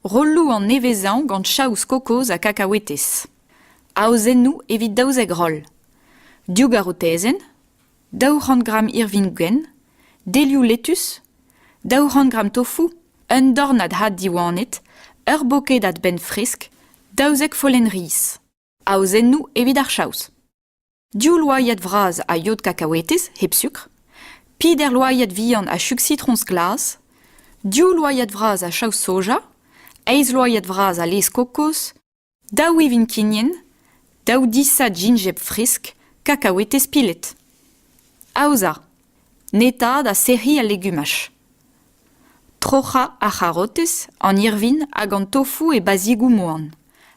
Rolloù an nevezañ gant chaous kokoz ha kakaouetez. Aozennoù evit daouzek roll. Div garotezenn, daou c'hant gramm irvin-gwenn, delioù lettus, daou c'hant gramm tofu, un dornad had diwanet, ur boked adbenn fresk, daouzek follenn riz. Aozennoù evit ar chaous. Div loaiad vras a yod kakaouetez hep sukr, peder loaiad vihan a chug sitroñs glas, div loaiad vras a chaou soja, eizh loaiad vras a laezh kokoz, daou ivin kignen, daou disad jinjeb fresk, kakaouetez pilet. Aozañ. Netañ da sec'hiñ al legumaj. Troc'hañ ar c'harotez, an irvin hag an tofoù e bazhigoù moan.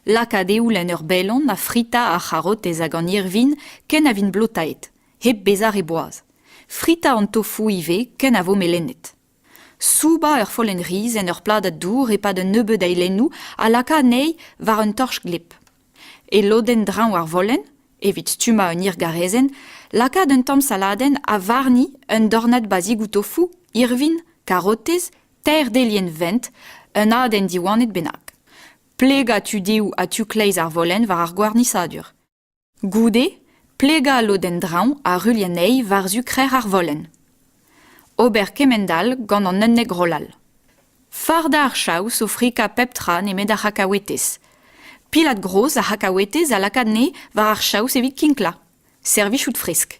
Lakaat eoul en ur bellon ha fritañ ar c'harotez hag an irvin ken a vint blotaet, hep bezañ re boaz. Fritañ an tofoù ivez ken a vo melenet. soubañ ur follenn-riz en ur pladad dour e-pad un nebeud eilennoù a laka anezhi war un torch-glep. E lodenn-dreñv ar vollenn, evit stummañ un hirgarezenn, lakaat un tamm saladenn ha warni un dornad bazhigoù tofoù, irvin, karotez, teir delienn vent, un adenn diwanet bennak. Plegañ tudeoù ha tu-kleiz ar vollenn war ar gwarnisadur. Goude, plegañ lodenn-draoñ ar ruilh anezhi war-zu krec'h ar volenn. Ober kement-all gant an unnek rollal. Fardañ ar chaous o frikañ pep tra nemet ar c'hakaouetez. Pilad groz ar c'hakaouetez a laka anezhe war ar chaous evit kinklañ. Servijout fresk.